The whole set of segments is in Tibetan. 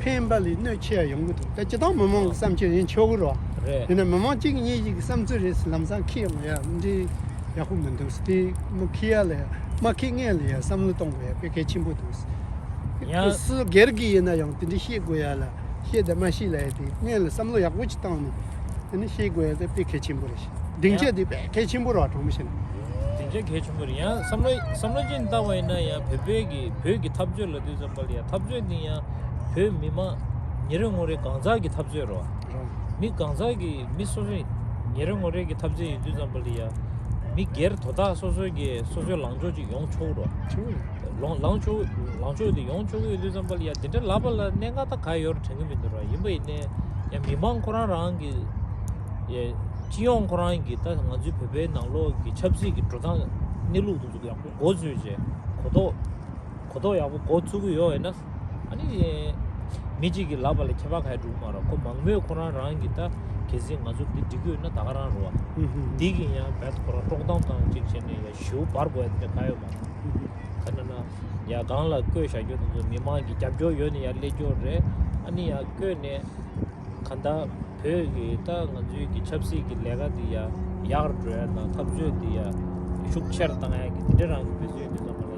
ཕན་པ་ལས་གནོད་ཆེ་བ་ཡོང་གི་འདུག་ད་སྤྱི་དང་མི་མང་གི་བསམ་ཚུལ་ཡིན་ཆོག་གི་རོ། རེད། དེ་ནི་མི་མང་གཅིག་གཉིས་ཤིག་གི་བསམ་ཚུལ་རེད་ལམ་སང་ཁེ་ཡོང་ཡ་མི་འདྲའི་ཡག་པོ་མི་འདུག་དེ་མི་ཁེ་ཡ་ལ་ཡ་མ་ཁེ་ངེས་ལ་ཡ་བསམ་བློ་གཏོང་དགོས་ཡ་དཔེ་གལ་ཆེན་པོ་འདུག་ཡང། སུ་སྒེར་གྱི་ཡིན་ན་ཡང་དེ་འདྲའི་ཤེས་དགོས་ཡ་ལ་ཤེས་དེ་མ་ཤེས་ལ་ཡ་དེ་ངེས་ལ་བསམ་བློ་ཡག་པོ་ཅིག་བཏང་ནས་དེ་ནི་ཤེས་དགོས་ཡ་དེ་དཔེ་གལ་ཆེན་པོ་རེད། སྡིངས་ཆ་ཡང། དེ་དཔེ་གལ་ཆེན་པོ་རོ་དྲང་མོ་བཤད་ན། སྡིངས་ཆ་གལ་ཆེན་པོ་རེད་ཡང་བསམ་བློ་བསམ་བློ་ཅན་བཏང་བ་ཡིན་ན་ཡང་བོད་པའི་གི་བོད་ཀྱི་འཐབ་རྩོད་ལ་དུས་ཙམ། པ་ལ་ཡང་འཐབ་རྩོད་འདི་ཡང་བོད་མི་དམངས་ཉིན་རེ་ངོ་རེ་གང་ཟག་གི་འཐབ་རྩོད་རོ། མི་གང་ཟག་གི་མི་སོ་སོ་ཉིན་རེ་ངོ་རེ་གི་འཐབ་རྩོད་ཡིན་དུས་ཙམ་པ་ལ་ཡང་མི་སྒེར་དོ་བདག་སོ་སོ་ཀྱི་སོ་སོའི་ལངས་ཕྱོགས་ཅིག་ཡོང་ཆོག་རོ། ལངས་ཕྱོགས་དེ་ཡོང་ཆོག་གི་ཡོད་དུས་ཙམ་པ་ལ་ཡང་འདི་འདྲ་ལབ་པ་ལ་གནད་འགག་ད་ག་ཡོད་རེ་དྲན་གྱི་མི་འདུག་ར་ཡིན་པ་ཡིན་ནའི་ཡང་མི་དམངས་ཁོ་རང་རང་གི་སྤྱི་ཡོངས་ཁོ་རང་གི་ད་ང་ཚོའི་བོད་པའི་ནང་ལོགས་ཀྱི་ཆབ་སྲིད་ཀྱི་འགྲོ་སྟངས་གནས་ལུགས་འདི་ཚོ་ཡག་པོ་འགོ་འཛུགས་བྱེད་གོ་ཐོག་གོ་རྟོགས་ཡག་པོ་འགོ་ཚུགས་ཀྱི་ཡོད་ན། ཨ་ནི། མི་གཅིག་གིས་ལབ་པ་ལས་ཁྱད་པར་ག་ཡེ་འགྲུབ་མ་རོགས་ཁོ་མང་མོས་ཁོ་རང་རང་གིས་ད་གལ་སྲིད་ང་ཚོ་འདི་འགྲིག་གི་ཡོད་ན་ད་ག་རང་རོ། འདི་གིས་ཡང་བེད་ཁོ་རང་དཀྲོག་གཏམ་གང་གཅིག་བྱས་ནས་ཡ་ཞུ་འབར་དགོས་ཡ་དེ་ག་ཡོད་མ་རེད། ཁ་ན་ན། ཡ་སྒང་ལ་བསྐོས་བཞག་རྒྱུ་དེ་ཚོ་མི་མང་གི་རྒྱབ་སྐྱོར་ཡོད་ནི་ཡ་ཀླད་ཀྱོག་རེད། ཨ་ནི་ཡ་བསྐོས་ནས། ག་ད་བོད་གི་ད་ང་ཚོའི་གི་ཆབ་སྲིད་གི་ལས་ཀ་དེ་ཡ་ཡག་རུ་འགྲོ་ཡ་དང་འཐབ་རྩོད་དེ་ཡ་ཤུགས་ཆེར་བཏང་ཡ་གི་དེ་འདྲ་རང་གི་བེད་སོད་ཡོད་དེ་ཚོ་མ་རེད།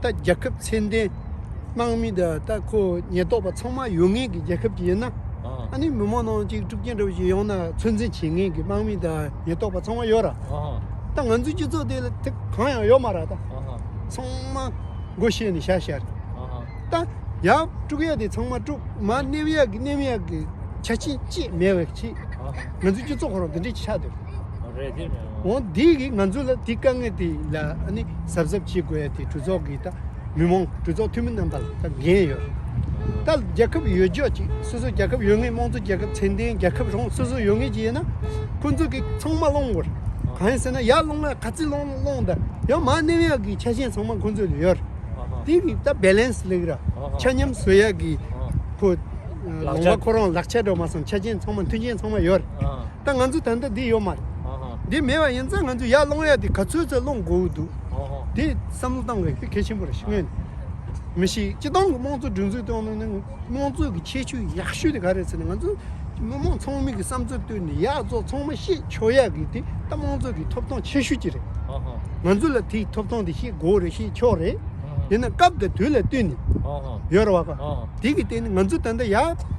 ད་རྒྱལ་ཁབ་ཚད་ལྡན། ནང་མི་དང་ད་ཁོ་ཉེན་རྟོག་པ་ཚང་མ་ཡོད་ངེས་ཀྱི་རྒྱལ་ཁབ་ཅིག་ཡིན་ན། ཨ་ནི་མི་མང་ནང་གཅིག་དཀྲུག་རྐྱེན་འདྲ་བོ་ཞིག་ཡོང་ན་ཚོད་འཛིན་བྱེད་ངེས་ཀྱི་དམག་མི་དང་ཉེན་རྟོག་པ་ཚང་མ་ཡོད་ར། ད་ང་ཚོའི་སྤྱི་ཚོགས་དེ་དེ་གང་ཡང་ཡོད་མ་ར་ད། ཚང་མ་སྒོ་ཕྱེས་ནས་བཞག་བཞག་རེད། ད་ཡག་དཀྲུག་ཡག་དེ་ཚང་མ་དཀྲུག་མ་སྣེབས་ཡག་གི་སྣེབས་ཡག་གི་ཆ་རྐྱེན་ཅིས་མེད་བའི་ཕྱིར། ང་ཚོའི་སྤྱི་ཚོགས་ཁོ་རང་དེ་འདྲའི་ཆགས་འདོད། རེད་དེ། འོ་འདི་གིས་ང་ཚོ་ལ་དེ་དཀའ་ངལ་དེ་ལ་གཟབ་གཟབ་བྱེད་དགོས་ཡ་དེ་གྲོས་ཚོགས་ཀྱི་ད་མི་མང་གྲོས་ཚོགས་འཐུས་མི་རྣམ་པ་ལ་ད་འགན་ཡོད་རེད་ད་རྒྱལ་ཁབ་ཡོད་ཆོག་ཅིག་སོ་སོ་རྒྱལ་ཁབ་ཡོད་ངེས་དམངས་གཙོ་རྒྱལ་ཁབ་ཚད་ལྡན་རྒྱལ་ཁབ་རང་སོ་སོ་ཡོད་ངེས་ཅིག་ཡོད་ན་ཁོ་ཚོ་གིས་ཚང་མ་སློང་དགོས་རེད་གང་ཡིན་ཟེར་ན་ཡར་སློང་ན་ག་ཚིག་སློང་སློང་ད་ཡང་མ་གནས་ཡག་གི་ཆ་ཤས་ཚང་མ་ཁོ་ཚོ་ལ་ཡོད་རེད་དེ་གི་ད balance ལེགས་ར་ཆ་མཉམ་བཟོ་ཡག་གི་ཁོ་ལོང་བ་ཁོ་རང་ལག་ཆ་འགྲོ་མ་སོང་ཆ་ཅན་ཚང་མ་མཐུན་རྐྱེན་ཚང་མ་ཡོད་རེད། ད་ང་ཚོ་ད་ལྟ་འདི་ཡོད་མ་རེད། འདི་མེད་པ་ཡིན་ཚེ་ང་ཚོ་ཡར་སློང་ཡག་དེ་ག་ཚོད་ཚོད་སློང་དགོས་ཀྱི་འདུག་དེ་བསམ་བློ་གཏང་དགོས་གལ་ཆེན་པོ་རེད་ཤི་ངོས་ནས། མི་ཤེས་སྤྱི་བཏང་གི་དམངས་གཙོ་སྒྲིག་འཛུགས་གཏོང་ནང་ནས་དམངས་གཙོ་གི་ཁྱད་ཆོས་ཡག་ཤོས་དེ་ག་རེད་ཟེར་ན་ང་ཚོ་མི་དམངས་ཚང་མིག་གི་བསམ་ཚུལ་བཏོན་ནས་ཡག་བཙོག་ཚང་མ་ཤེས་ཆོག་ཡག་གི་དེ་ད་དམངས་གཙོ་གི་ཐོབ་ཐང་ཆེ་ཤོས་ཀྱི་རེད། ང་ཚོ་ལ་དེའི་ཐོབ་ཐང་དེ་ཤེས་དགོས་རེད་ཤེས་ཆོག་རེད། དེ་ནི་སྐབས་དང་དུས་ལ་བསྟུན་ནས་ཡོད་རེད་བ། དེ་གི་སྟེང་ནས་ང་ཚོ་ད་ལྟ་ཡར།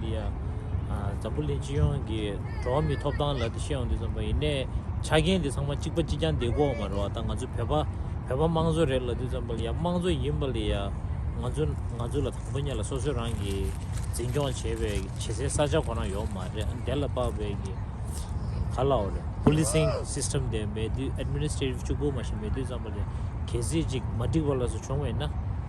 འདི་ཡང་འཛམ་བུ་གླིང་སྤྱི་ཡོངས་ཀྱི་འགྲོ་བ་མིའི་ཐོབ་ཐང་ལ་དེ་ཤེས་ཡོང་དུས་ཙམ་པོ་ཡིན། ཆ་རྐྱེན་དེ་ཚང་མ་གཅིག་པ་གཅིག་རྐྱང་དེ་གོ་མ་རུ་བ་དང་ང་ཚོ་བོད་པ་བོད་པ་དམངས་གཙོ་རེད་ལབ་དུས་ཙམ་པོ་ལ་ཡང་དམངས་གཙོ་ཡིན་པ་ལ་ཡང་ང་ཚོ་ང་ཚོ་ལ་དང་པོ་ཉིད་ལ་སོ་སོའི་རང་གི་འཛིན་སྐྱོང་བྱེད་པའི་བྱེད་སའི་ས་ཆ་གོ་ན་ཡོག་མ་རེད་ཨ་དེ་ལ་དཔག་པའི་གི་ག་ལ་འོ་རེད Policing System དེ་མེད་དུས Administrative ཅུ་གུ་མ་ཞིག་མེད་དུས་ཙམ་པོ་ལ་གལ་སྲིད་ཅིག་མ་འགྲིག་པ་ལ་སོགས་བྱུང་བ་ཡིན་ན།